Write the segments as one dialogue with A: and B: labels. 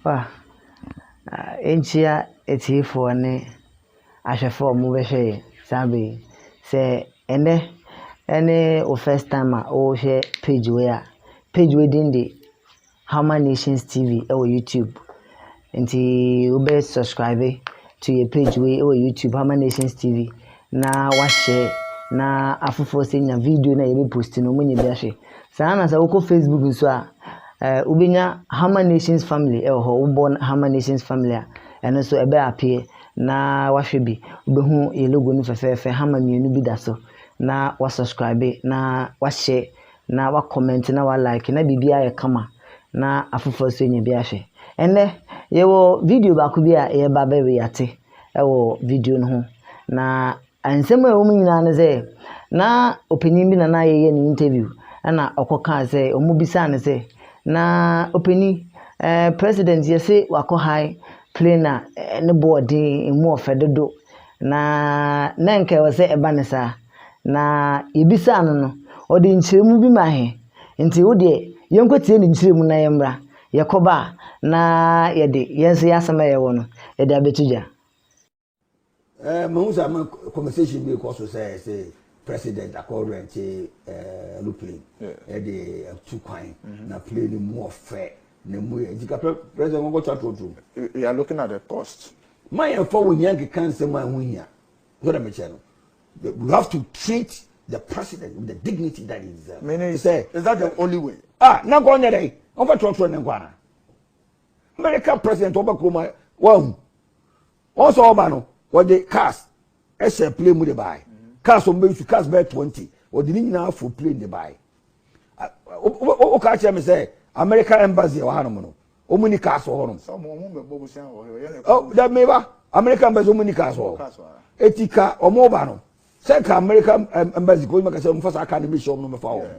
A: Wa, nkyia etsiefoɔ ne ahwɛfoɔ a wɔbɛhwɛ yɛn saa bɛ yi. Sɛ ɛnnɛ ɛne wo first time a wohwɛ page wei a, page wei din de. Hama Nations TV wɔ YouTube nti wobɛ subscribe to yɛ page wei wɔ YouTube Hama Nations TV na wahyɛ na afoforɔ sɛ nya video na yɛbɛ post no ɔmonyɛ bi ahwɛ saa na sɛ wokɔ Facebook nso a eh, wobɛnya Hama Nations Family ɛwɔ hɔ wobɔ Hama Nations Family a ɛno nso ɛbɛ apeɛ na wahwɛ bi wobɛhu yɛ logo no fɛfɛɛfɛ hama mmienu bi da so na wasubscribe na wahyɛ na wa comment na wa like na biribi ayɛ kama na afoforɔ nso anya bi ahwɛ ɛnɛ yɛwɔ video baako bi a yɛba bɛ reate ɛwɔ video no ho na nsɛm a ɛwɔ mu nyinaa no sɛ na ɔpanin bi na na yɛyɛ ne interview ɛna ɔkɔ kaa sɛ ɔmo bisaa no sɛ na ɔpanin ɛɛ eh, president yɛse wakɔ high plane a eh, ne boɔ den emu ɔfɛ dodo na na nka ɛwɔ sɛ ɛba ne saa na yebisaa no no, ɔde nkyerɛmu bi maa hɛn. Ntsi wo deɛ, yɛnkɔtsie ne nkyerɛmu na yɛmbra. Yɛkɔba a, na yɛde hɛn so y'asɛm a yɛwɔ no, yɛde abɛto gya. Eh, mahu
B: sɛ ama conversation bi rekɔ so sɛ sɛ president akɔ rɛnte eh, aeroplane ɛde eh, atu kwan mm-hmm. na plane no mu ɔfɛ na mu yɛ gyika president wɔnkɔtwa torotoro. we are looking at the
C: cost. ma yɛmfa wo
B: hia nkeka nsɛm a ɛho hia Wohwɛ dɛ mekyɛ no, you have to treat the president with the dignity that he deserves. Mene, is that the
C: only way? Ah, na nka ɔnyɛ dɛ,
B: ɔmfa trɔtrɔ ne nkwa na. America president ɔba kurom a, wahu. Wɔn sɛ ɔba no, wɔde cars ɛhyɛ plane mu de bae. Cars wɔn bɛyi su, cars bɛyɛ twenty, wɔde ne nyinaa fo plane de bae. Woka kyerɛ me sɛ America embassy ɛwɔ hanom no, wɔn ni cars wɔ hɔ nom.
C: sɛ wɔn wɔn bɛbɔ bosia wɔ hɔ yɛ na ɛkɔ.
B: ɔ dɛ meba america embassy wɔn ni cars wɔ hɔ eti ka wɔn ba no sɛ ka america embassy kò nyima kasa wɔn fa saa car no bi hyɛ wɔn nom fa wɔn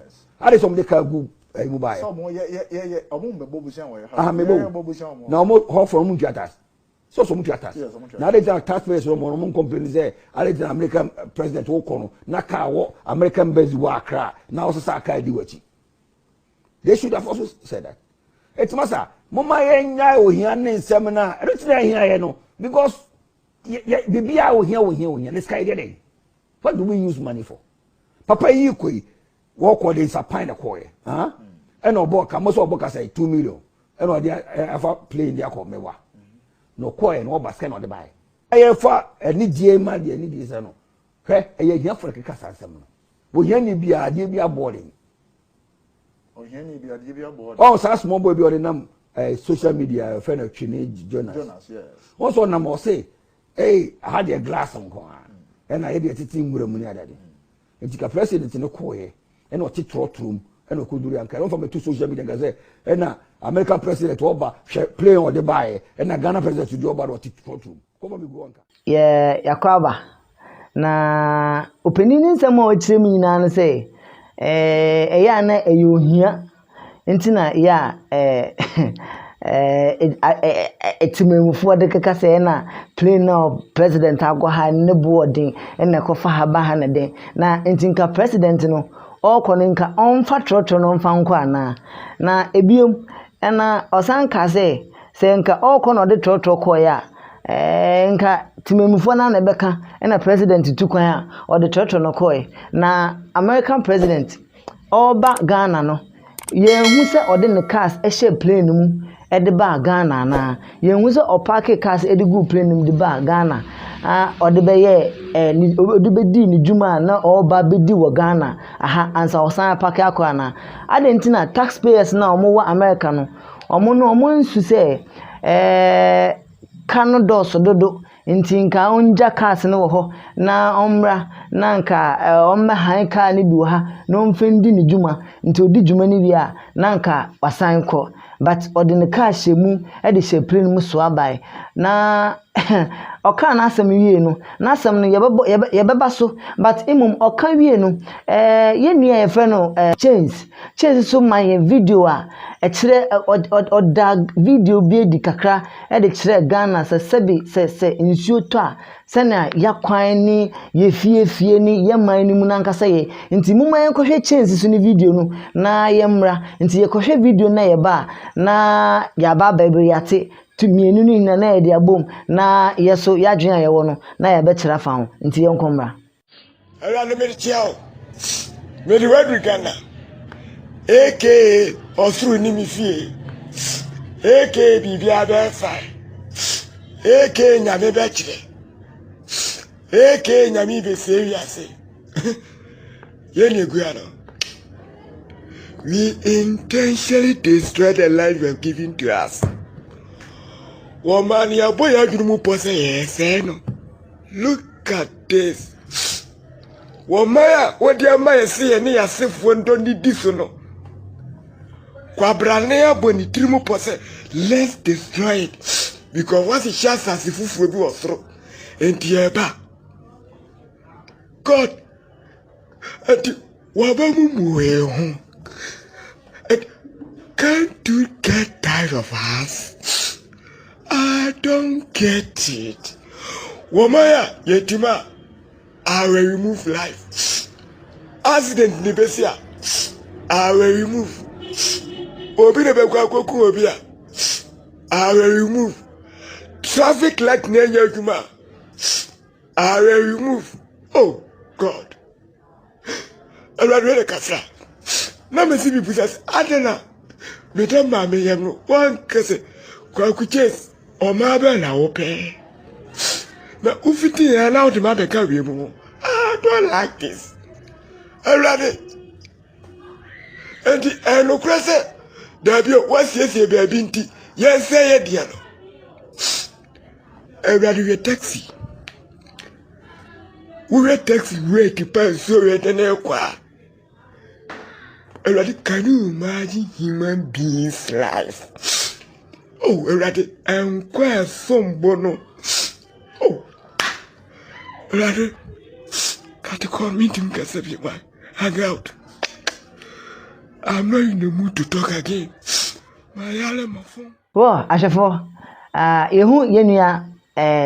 B: adi sɛ wɔn de car gu ɛyi mu ba yɛ. sɛ
C: wɔn yɛ yɛ yɛ yɛ wɔn bɛbɔ
B: bosia wɔ yɛ ha. aha mebo na wɔn hɔ fɔ wɔn ntua tax sɛ ɔsɔ wɔn tua tax na adi gyina tax payers wɔn wɔn wɔn complain sɛ adi gyina america president wɔ kɔ no na car wɔ america embassy wɔ akra na ɔsesa car di wɔ akyi. they should have also said that eti ma sa mo ma yɛn nya ohia ne nsɛm na ɛno ti na ɛhia yɛ no because yɛ yɛ bibi a ohia ohia ohia ne sika yɛ dɛ what do we use money for papa yi kɔ yi wɔkɔ de nsa pan na kɔ yɛ ɛn ɛna ɔbɔ ka mo sɛ ɔbɔ kasa yi two million ɛna ɔde afa plane de akɔ mɛwa na ɔkɔ yɛ na ɔba sika na ɔde ba yɛ ɛyɛ fa ɛni die ma deɛ ɛni die sɛ no hwɛ ɛyɛ hiafo na keka saa nsɛm no ohia ni bi a adeɛ bi abɔ de Ohiani bi adeɛ bi abɔ hɔ. Wɔn saa small bi ɔde nam ɛɛ eh, social media ɛfɛ na twene Jonas. Jonas yɛ. Wɔn sɔ
C: nam ɔse
B: ɛyi eh, aha deɛ glass nko ara ɛna yɛ deɛ tete nwura mu ne adade. Hmm. Nti ka president ne kɔɔyɛ ɛna ɔte trɔtrɔ mu ɛna ɔkɔduru yɛ nkae. Wɔn fa bɛ to social media nka sɛ ɛna American president ɔba hwɛ plane ɔde baayɛ ɛna Ghana president deɛ ɔba na ɔte trɔtrɔ mu. Yɛ Yakwaba.
A: Na ɔpanin no nsɛm a ɔkyerɛ mu nyinaa ne sɛ, eh, ɛyɛ a na ɛyɛ ohia nti na yɛ a eh, eh, temamufoɔ de keka sɛ ɛna plane na president akɔ ha ne boɔ den na ɛkɔfa ha ba ha na den na nti nka president no ɔrekɔ no nka ɔmfa trɔtrɔ no mfa nkɔ anaa na ebiom ɛna ɔsan kaa sɛ Sɛ nka ɔrekɔ na ɔde trɔtrɔ kɔeɛ a, ɛɛ nka temanmufoɔ no ara na ɛbɛka ɛna president tu kwan a ɔde trɔtrɔ no kɔeɛ. Na American president ɔreba Ghana no, yɛnhu sɛ ɔde ne cars hyɛɛ plane no mu de baa Ghana anaa. Yɛnhu sɛ ɔpaakee cars de guu plane no mu de baa Ghana a ɔde bɛyɛɛ ɛɛ ne ɔde bɛdii ne dwuma a na ɔreba abɛdi wɔ Ghana aha ansa ɔsan apake akɔ anaa. Adɛn nti na tax payers no a wɔwɔ America no, Wɔn no, wɔansu sɛ kar no dɔɔso dodo nti nka ɔngya cars no wɔ hɔ na ɔmmra na nka ɔmmɛhan kar no bi wɔ ha na ɔmfa ndi ne dwuma. Nti ɔdi dwuma no wie a, na nka wasan kɔ. But ɔde ne kar hyɛɛ mu de hyɛɛ plane mu soa bae. Na ɔkaa n'asɛm wiei no, n'asɛm no yɛbɛbɔ yɛbɛ yɛbɛba so but mmom ɔka wiei no ɛɛ yɛn nua a yɛfrɛ no ɛɛ Chains Chains nso ma yɛn video a ɛkyerɛ ɔd ɔd ɔda video bi adi kakra ɛde kyerɛ Ghana sɛ sɛbi sɛ sɛ nsuo tɔ a sɛnea yɛakwan ne yɛ fie fie ne yɛ man no mu no ankasa yɛ nti moma yɛn kɔhwɛ Chains so ne video no na yɛmmra nti yɛkɔhwɛ video no na yɛba a na yɛaba abɛbɛ yɛate Nti mmienu no nyinaa na yɛde abom na yɛ so yɛadwene a yɛwɔ no na yɛabɛkyerɛ afa ho. Nti yɛnkɔ mmra. Awurade
D: mede kyea wo. Mede w'aduru Ghana. Aka ɔsoro ni me fie. Aka biribiara bɛyɛ fine. Aka nyame bɛkyerɛ. Aka nyame bɛsie wiase. Yɛn na egua no. We intentionally destroy the life you have given to us. Wɔn maa ni abɔ yɛn adwene mu pɔ sɛ yɛn sɛɛ no. Look at this. Wɔn mmaa a wɔde ama yɛn sɛ yɛn ne yɛn asefoɔ ndɔ ne di so no. Kwabrane abɔ ne tiri mu pɔ sɛ let's destroy it because wɔahyehyɛ asase foforɔ bi wɔ soro. Nti yɛreba. God ɛde waba mu mu wee ho it can't do get tired of us I don't get it wɔma ya yɛtim a I will remove life accident ni bɛsi a I will remove obi na bɛkɔ akɔku obi a I will remove traffic light na ɛnyɛ adwuma a Aare remove oh God Awurade wei na kasa na me si bibu sase ade na me dɛ maame yɛm no wankɛsɛ kwaku chase ɔmaa bɛn na wopɛ na wofiti yɛn na wode ma bɛka wie mu ho I don't like this Awurade enti ɛnokorɛ sɛ daabi o wasiesie baabi nti yɛnsɛ yɛ deɛ no Awurade hwɛ taxi. Wohwɛ taxi brake pɛ a nsuo reyɛ dɛ na ɛrekɔ a, Awurade can you imagine human beings life? Oh Awurade nkwa a ɛsom bo no. Oh Awurade kate kɔ mentumi kasa bi ma hang out. I'm not in the mood to talk again. Mayare my phone. Wɔ ahwɛfo,
A: a yehu yɛn nua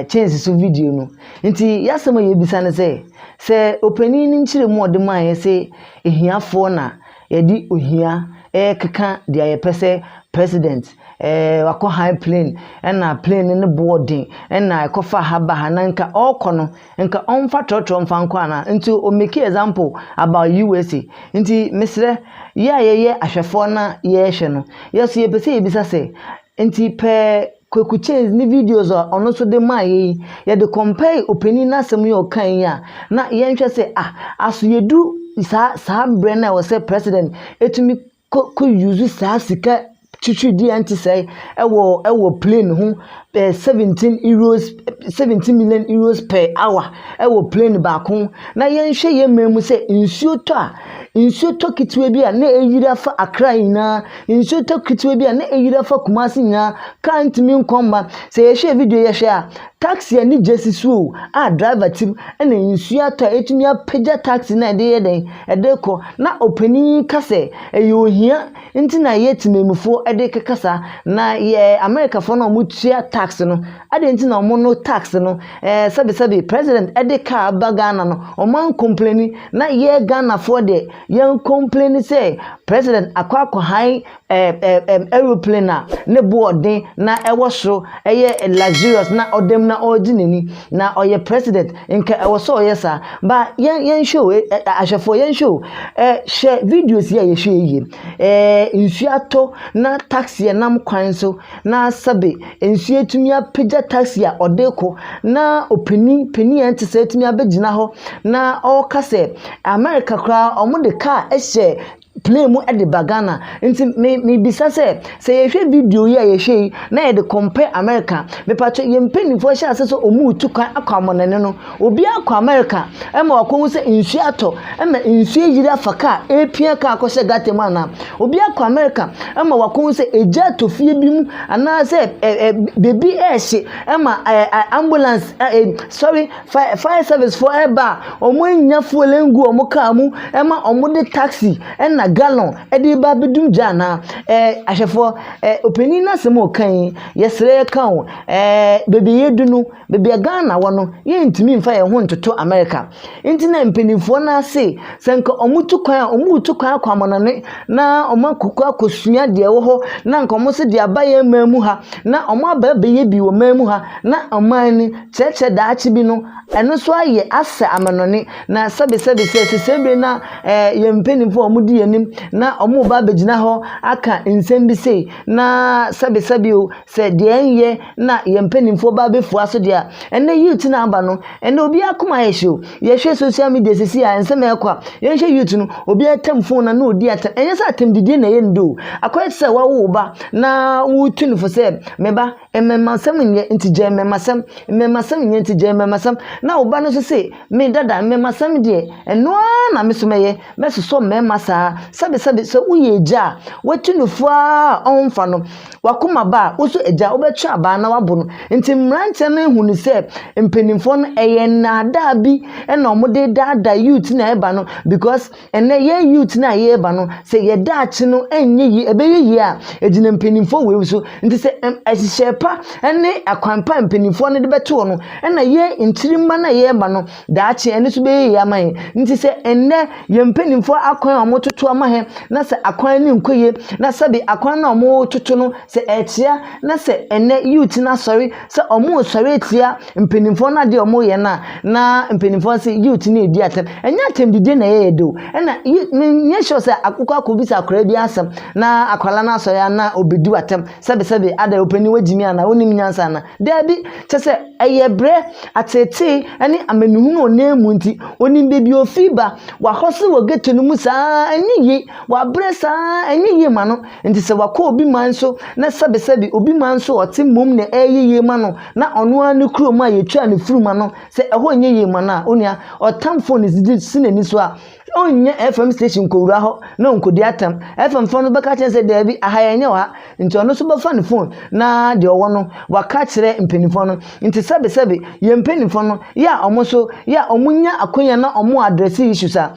A: Chance so video no nti, y'asɛm a yebisa ne sɛ, sɛ ɔpanyin no nkyerɛmu a ɔde maeɛ se ahiafoɔ na yɛde ohia rekeka deɛ yɛpɛ sɛ president ɛɛ wakɔ high plane ɛna plane no ne boɔ den ɛna ɛkɔfa ha ba ha na nka ɔrekɔ no Nka ɔmfa trɔtrɔ mfa nkɔ anaa? Nti o make example about USA. Nti mesrɛ, yɛ a yɛyɛ ahwɛfoɔ na yɛɛhwɛ no, yɛ so yɛpɛ sɛ yɛbisa sɛ, nti pɛɛ Kweku Chase ne videos a ɔno nso de maa yɛ yi, yɛde compare opanin n'asɛm yi a ɔkae yi a, na yɛnhwɛ sɛ ah, aso yɛdu saa saa berɛ no a ɛwɔ sɛ President tumi kɔ kɔ use saa sika twitwiridie a ɛnte sɛɛ ɛwɔ ɛwɔ plane ho ɛɛ seventeen euros seventeen million euros per hour ɛwɔ plane baako ho na yɛnhwɛ yɛn mmaa mu sɛ nsuo tɔ a nsuo tɔ ketewa bi a na ayiri afa Accra nyinaa nsuo tɔ ketewa bi a na ayiri afa Kumasi nyinaa car ntumi nkɔ mma sɛ yɛhwɛ video yi yɛhwɛ a. Taxi ani gye si so o a driver te mu ɛna nsuo atɔ a ɛtumi apagya taxi no a ɛde yɛ dɛn ɛde rekɔ na ɔpanin yi ka sɛ ɛyɛ ohia nti na yɛ temanmufoɔ ɛde rekeka saa na yɛ Americafoɔ no a wɔn tua tax no adɛn nti na wɔn no tax no ɛɛ sɛbi sɛbi president ɛde car aba Ghana no wɔn an complaini na yɛ Ghanafoɔ deɛ yɛn complaini sɛ president akɔ akɔ han aeroplane a ne bo yɛ den na ɛwɔ soro yɛ luxurious na ɔda mu na ɔregye n'ani, na ɔyɛ president, anka ɛwɔ sɛ ɔyɛ saa. Ba yɛn yɛnhwɛ o, eh, eh, ahwɛfoɔ yɛnhwɛ o, eh, hwɛ videos yi a yɛhwɛ yie. Eh, nsuo atɔ na taxi nam kwan so na sɛbe nsuo atumi apagya taxi a ɔde kɔ na ɔpanin panin a ɛnte sɛ atumi abɛgyina hɔ na ɔreka sɛ America koraa wɔde kaa hyɛ plane mu de ba Ghana. Nti me mebisa sɛ, sɛ yɛhwɛ video yi a yɛhwɛ yi na yɛde compare America, mepatwɔ yɛn mpanyinfoɔ hyɛ ase sɛ ɔmo retu kwan akɔ amɔnɛne no, obia kɔ America ɛma wakɔ hu sɛ nsuo atɔ, ɛma nsuo ayiri afa car, ɛrepia car akɔhyɛ gutter mu anaa? Obi akɔ America ɛma wakɔ hu sɛ egya atɔ fie bi mu anaasɛ ɛ ɛ beebi ɛrehye ɛma ɛ ɛ ambulance ɛ ɛ sorry. Fire fire service foɔ ɛreba a wɔnnya fuel ngu wɔn car mu ɛma wɔde taxi ɛna gallon ɛde ba abɛdum gya anaa ɛɛ ahwɛfoɔ ɛɛ ɔpanin no asɛm a ɔka yi yɛsrɛ yɛka o ɛɛ baabi a yɛadu no baabi a Ghana wɔ no yɛntumi mfa yɛn ho ntoto America nti na mpanimfoɔ no ara se sɛ nka wɔtu kwan a wɔretu kwan akɔ amanɔne na wɔn akɔkɔ akɔsua deɛ ɛwɔ hɔ na nka wɔn se deɛ aba yɛn man mu ha na wɔn aba abɛyɛ bi wɔ man mu ha na ɔman no. kyerɛkyerɛ daakye bi no, ɛno nso ayɛ asɛ amanɔne. Na sɛbesɛbe sɛ sesɛɛ bere no a eh, yɛn mpanyimfo a wɔdi yɛn anim na wɔreba abegyina hɔ aka nsɛm bi sei, na sɛbesɛbe o, sɛ deɛ ɛnyɛ na yɛn mpanyimfoɔ ba abɛfua so deɛ a, ɛnnɛ youth no a aba no, ɛnnɛ obiara akoma ayɛ hye o. Yɛhwɛ social media sisi a nsɛm a ɛrekɔ a, yɛnhwɛ youth no, obiara tam phone no na ɔdi atɛm. Ɛnyɛ sɛ atɛmdidie na ɛyɛ no de o, akɔyɛ te sɛ wawo wo ba na woretu no fo sɛ, me ba, Mmɛmasɛm nyɛ nti gyae mmɛmasɛm, mmɛmasɛm nyɛ nti gyae mmɛmasɛm, na wo ba no nso se, Me dada, mmɛmasɛm deɛ, ɛno ara na me nso mɛyɛ, mɛsosɔ mmarima saa. Sɛbesɛbe, sɛ woyɛ agya a, watu no fo ara a ɔremfa no, w'akoma ba a, wo nso agya, wobɛtwe abaa na woabo no. Nti mmeranteɛ no ahu no sɛ mpanimfoɔ no, ɛyɛ nnaadaa bi na wɔde redaadaa youth no a ɛreba no because, Ɛnnɛ yɛn youth no a yɛreba no, sɛ yɛn daakye no nyɛ yie, ɛbɛyɛ yie a, ɛgyina mpanimfoɔ wei so. Nti sɛ ɛm ɛhyehyɛ pa ne akwan pa a mpanimfoɔ no de bɛto hɔ no, ɛna yɛn nkyirimma no a yɛreba no, daakye ɛno nso bɛyɛ yie ama yɛn. Nti sɛ ɛnnɛ yɛn mpanimfoɔ akwan a wɔtoto ama yɛn, na sɛ akwan no nkɔ yie, na sɛbe akwan no a wɔtoto no sɛ ɛkyea, na sɛ ɛnnɛ youth no asɔre sɛ wɔresɔre atia mpanimfoɔ no adeɛ a wɔreyɛ no a, na mpanimfoɔ no sɛ youth no redi atɛm. Ɛnyɛ atɛmdidie na ɛyɛ yɛ de o. Ɛna yi menyɛ sure sɛ akokɔ akɔbisa akwadaa bi asɛm na akwadaa no asɔre a na ɔbɛdi w'atɛm sɛbesɛbe adɛn ɔpanin wagyi me anaa wonim nyansa anaa. Daabi, kyɛ sɛ ɛyɛ berɛ ateetee ne amanehunu ɔnam mu nti. Ɔnim baabi a ɔfiri ba. Wahɔ so wɔ ghetto no mu saa ɛnyɛ yie. Wabrɛ saa ɛnyɛ yie ma no. Enti sɛ wakɔ obi man so na sɛbesɛbe obi man so a ɔte mmom nea ɛyɛ yiye ma no na ɔno ara ne kurom a yetwaa ne funum ano sɛ ɛhɔ nyɛ yiye ma no a, onua, ɔtamfo no de si n'ani so a, ɔnnya FM station nkowura hɔ na onkodi atɛm. FM fo no bɛka akyerɛ no sɛ, Dabi, aha yɛnyɛ wɔ ha. Enti ɔno nso bɛfa ne fon na deɛ ɔwɔ no waka akyerɛ mpanyimfo no. Enti sɛbesɛbe yɛn mpanyimfo no, yɛ a wɔn nso, yɛ a wɔnya akwanya na wɔwɔ address issues a,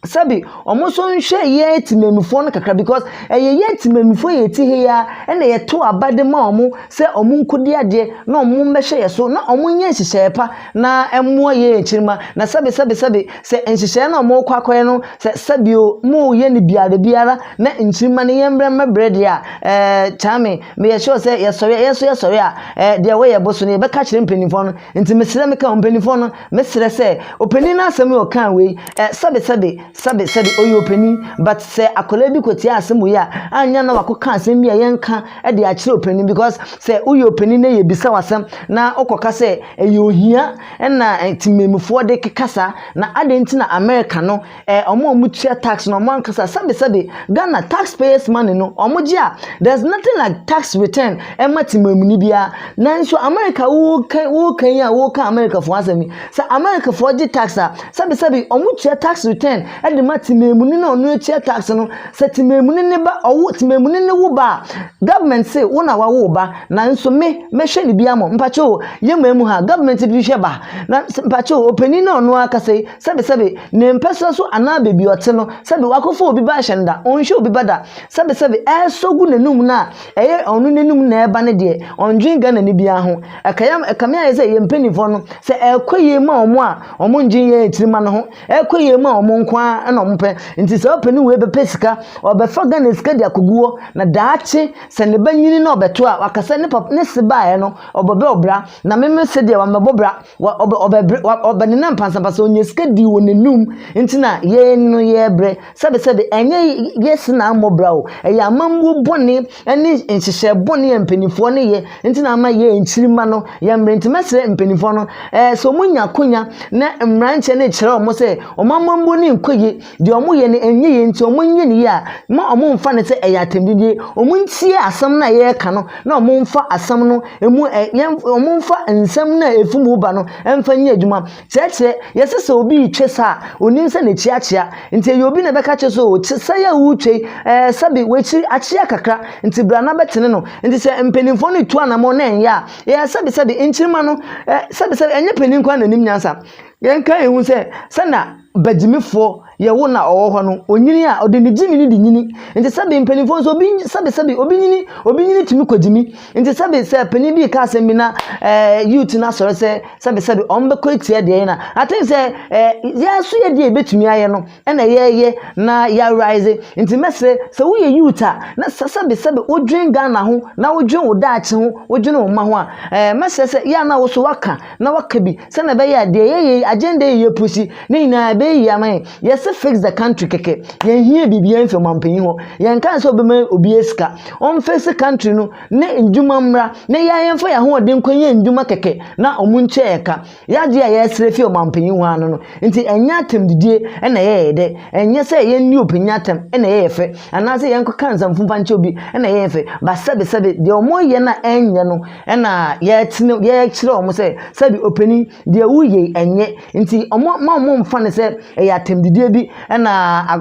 A: sɛbi wɔn nso nhwɛ yɛn temamufoɔ no kakra because ɛyɛ yɛn temamufoɔ yɛ ti ha yi ara ɛna yɛto aba de ma wɔn sɛ wɔn nkɔdi adeɛ na wɔn mmɛhwɛ yɛn so na wɔn nyɛ nhyehyɛeɛ pa na ɛmmoa yɛn akyirima na sɛbi sɛbi sɛbi sɛ nhyehyɛeɛ na wɔn rekɔ akɔyɛ no sɛ sɛbi o mo yɛ no biara biara na nkyirima no yɛn mbrɛ mmɛbrɛ deɛ a ɛɛ kyaame meyɛ sure sɛ yɛsɔre a yɛn nso yɛsɔre a ɛɛ deɛ wɔyɛ bɔ so no yɛbɛka kyerɛ mpanimfoɔ no nti mesrɛ meka wɔn mpanimfoɔ no. Mɛsrɛ sɛ opanin no asɛm yi a ɔkaa wei ɛ, sɛbe sɛbe, sɛbe sɛbe ɔyɛ opanin, but sɛ akwadaa bi kɔtiaa asɛm wei a, anyɛ na wakɔka asɛm bi a yɛnka de akyerɛ opanin, because sɛ woyɛ opanin na yɛbisa wo asɛm na wokɔka sɛ ɛyɛ ohia na temamufoɔ de keka saa, na adɛn nti na America no eh, wɔn a wɔtua tax no wɔn ankasa sɛbesɛbe ghana tax payers money no wɔgye a there's nothing like tax return ɛma temaamuni biara nanso america woka woka yi a woka americafoɔ asɛm yi sɛ americafoɔ gye tax a sɛbesɛbe wɔtua tax return ɛde ma temaamuni na ɔno atua tax no sɛ temaamuni ne ba ɔwo temaamuni ne wo ba a government se wo na wawo ba nanso me mɛhwɛ ne bi ama mpakyɛw yɛ maa mu ha government bi hwɛ ba na mpakyɛw opanin na ɔno akasa yi sɛbesɛbe, ne mpasua so anaa baabi a ɔte no, sɛbe wakɔfa obi ba ahyɛ no da, ɔnhwɛ obi ba da, sɛbesɛbe ɛresɔ gu n'anum no a, ɛyɛ ɔno n'anum na ɛreba no deɛ, ɔndwen Ghanani biara ho. Ɛka yɛn, ɛkame ayɛ sɛ yɛn mpanimfoɔ no, sɛ ɛrekɔ yie ma wɔn a, wɔndwen yɛn akyirima no ho, ɛrekɔ yie ma wɔn nko ara na wɔpɛ. Nti saa ɔpanin wei bɛpɛ sika, ɔrebɛfa Ghana sika de akɔgu hɔ, na daakye sɛ ne ba nyini na ɔbɛto a, waka sɛ ne papa, ne se baeɛ no, ɔbɛbɔ bra, na me me se deɛ, mammɛbɔ bra. Wa ɔbɛ ɔbɛbrɛ wa ɔbɛnenam pansapasa onyaa sika dii wɔn anum nti na yɛn no yɛbrɛ sɛbi sɛbi ɛnyɛ yɛ si na ammɔ bra o ɛyɛ amammuo bɔne ɛne nhyehyɛ bɔne a mpanimfoɔ no yɛ nti na ama yɛ nkyirima no yɛ mmerɛ nti mɛsrɛ mpanimfoɔ no ɛɛ sɛ wɔn nya akonya na mmeranteɛ no kyerɛ wɔn sɛ wɔn amammuo no nkɔ yie Deɛ ɔmo yɛ no ɛnyɛ yie nti ɔmo nyɛ no yie a mma ɔmo mfa no sɛ ɛyɛ atɛmdidie. Ɔmo ntie asɛm no a yɛreka no na ɔmo mfa asɛm no ɛmu ɛ yɛ ɔmo mfa nsɛm no a ɛfi mu ba no ɛmfa nyɛ adwuma. Kyerɛkyerɛ, Yɛse sɛ obi retwe sa a ɔnim sɛ n'akyi akyea nti ɛyɛ obi na ɛbɛka akyerɛ sɛ oo kye sa yi a woretwa yi ɛɛ sɛbe w'akyi akyea kakra nti bra na bɛtene no. Nti sɛ mpaninfoɔ no retu anamɔn na ɛnyɛ a ɛɛ sɛbe sɛbe nkyirima no ɛ sɛbe sɛbe ɛnyɛ panin nko ara na ɛnim nyansa. Yɛnka yɛn hu sɛ sɛnea. bagyimifoɔ yɛ wo na ɔwɔ hɔ no ɔnyini a ɔde ne gyimi no de nyini nti sɛbe mpanimfoɔ nso obi sɛbe sɛbe obi nyini obi nyini tumi kɔ gyimi nti sɛbe sɛ panin bi ka asɛm bi na ɛɛ eh, youth no asɔre sɛ sɛbe sɛbe wɔn bɛkɔ etia deɛ yɛn na I think sɛ ɛɛ eh, yɛn nso yɛ deɛ ebetumi ayɛ no ɛna yɛyɛ na yɛarise nti mɛsrɛ sɛ woyɛ youth a na sɛ sɛbe sɛbe wodwen Ghana ho na wodwen wo daakye ho wodwen wo mma ho a ɛɛ eh, mɛsrɛ sɛ yɛn a na woso waka na waka bi sɛnea ɛbɛyɛ a deɛ yɛyɛ yi agenda yi yɛpusi ne nyinaa ɛbɛyɛ yie ama yɛn yɛse fix the country kɛkɛ yɛnhia biribiara mfi ɔmampanyin hɔ yɛnka sɛ ɔbɛma obiara sika ɔmfɛsi country no ne ndwuma mmra na yɛa yɛmfa yɛn ahoɔden nkɔ yɛ ndwuma kɛkɛ na ɔmo nkyɛ yɛ ka yɛagye a yɛsrɛ fi ɔmampanyin hɔ ano no nti ɛnyɛ atɛmdidie ɛna ɛyɛ yɛ dɛ ɛnyɛ sɛ yɛn ne obi nyɛ atɛm ɛna ɛyɛ yɛ fɛ anaasɛ yɛnkɔka nsamfo mfa nkyɛ obi ɛna ɛyɛ yɛn fɛ ba sɛbesɛbe deɛ ɔmo yɛ no a ɛnyɛ no Ɛna yɛtene yɛkyerɛ wɔn sɛ sɛbi ɔpanin deɛ woyɛ yi ɛnyɛ nti wɔn mma wɔn mfa no sɛ ɛyɛ atɛmdidie bi ɛna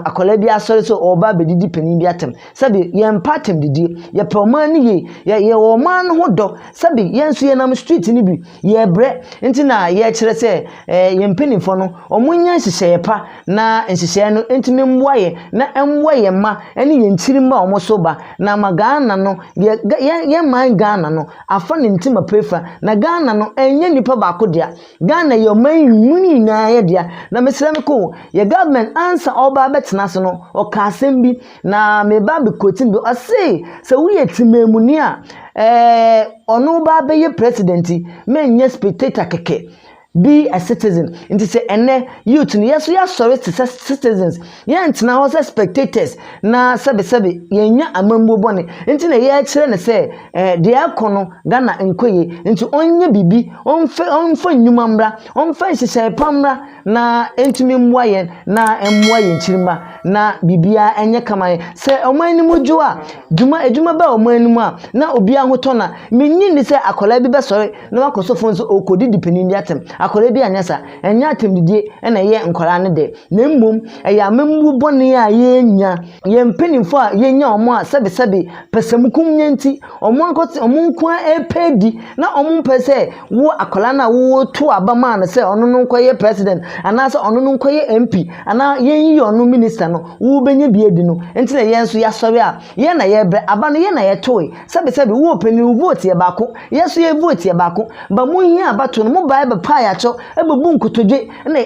A: akwadaa bi asɔre sɛ ɔreba abɛdidi panin bi atɛm sɛbi yɛmpɛ atɛmdidie yɛpɛ wɔn ani yie yɛ yɛwɔ wɔn mma no ho dɔ sɛbi yɛn nso yɛnam street no bi yɛbrɛ nti na yɛkyerɛ sɛ ɛɛ yɛn mpaninfoɔ no wɔnyɛ nhyehyɛeɛ pa na nhyehyɛɛ no ntumi mboa yɛn, na mboa yɛn mma ne yɛn nkyirmba a wɔso ba, na ama Ghana no, yɛn man Ghana no afa ne ntsim apeefa, na Ghana no nnyɛ nyimpa baako dea, Ghana yɛ ɔman yi mu no nyinara dea. Na meserɛ me ko, yɛ government ansa ɔreba abɛtsena ase no, ɔkaa asɛm bi, na mereba abɛquote no bi, ɔsee, sɛ woyɛ tsemanmuni a, ɛɛ, ɔno ba abɛyɛ president, mennyɛ spectator kɛkɛ, Be a citizen. Nti sɛ ɛnɛ, youth no, yɛ so yɛasɔre te sɛ citizens. Yɛntena hɔ sɛ spectators na sɛbesɛbe yɛnnya amammuo bɔne. Nti na yɛkyerɛ no sɛ eh, deɛ ɛrekɔ no, Ghana nkɔ yie. Nti ɔnyɛ biribi, ɔmfa, ɔmfa nnwuma mmra, ɔmfa nhyehyɛe pa mmra na ɛntumi mmoa yɛn na ɛmmoa yɛn nkyirimma na biribiara nyɛ kama. Sɛ ɔman no mu dwo a, dwuma, adwuma ba ɔman no mu a, na obiara ho tɔ no a, mennye nni sɛ akwadaa bi bɛsɔre na wakɔ so fon sɛ ɔrekɔdidi panin bi atɛm. Akwadaa bi anyɛ saa. Ɛnyɛ atɛmdidie na ɛyɛ nkwadaa no dɛ, na mmom ɛyɛ amammuo bɔne a yɛnya. Yɛn mpanimfoɔ a yɛnya wɔn a sɛbesɛbe pɛsɛmukomyɛ nti, wɔn ankasa wɔn nko ara repɛ adi, na wɔmpɛ sɛ wo akwadaa no a woreto aba maa no sɛ ɔno no nkɔyɛ president, anaasɛ ɔno no nkɔyɛ MP, anaa yɛnyi ɔno minister no, wobɛnya bi adi no nti na yɛn nso yɛasɔre a yɛn na yɛrebrɛ. Aba no yɛn na yɛtoe. Sɛbesɛbe wo ɔpanin wo vote yɛ baako, Yɛso yɛ vote yɛ baako but mo hia abatoɔ no mo baɛ bɛ paɛ akyɛw ɛbɛbu nkotodwe ne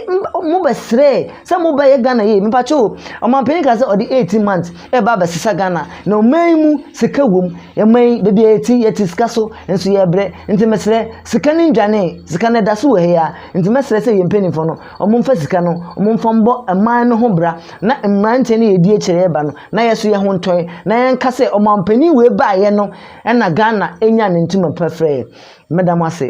A: mo bɛ srɛɛ sɛ mo bɛ yɛ Ghana yie mepakyɛw o ɔmanpanin kaa sɛ ɔde 18 months ɛɛba abɛ sesa Ghana na ɔman yi mu sika wom yɛman yi bɛbi a yɛti yɛti sika so nso yɛ brɛ nti mesrɛ sika no ndwanee sika no ɛdaso wɔ ha yi ara nti mɛsrɛ sɛ yɛ mpaninfoɔ no ɔmo nfa sika no ɔmo nfa mbɔ ɛman no ho bra na mmranteɛ no yɛ ɛdi akyire ɛɛba no na yɛso yɛho ntɔɛ na yɛnka sɛ ɔmanpanin wei baɛ no Ɛna Ghana nya ne ntoma pa frɛ yɛ. Meda mo ase.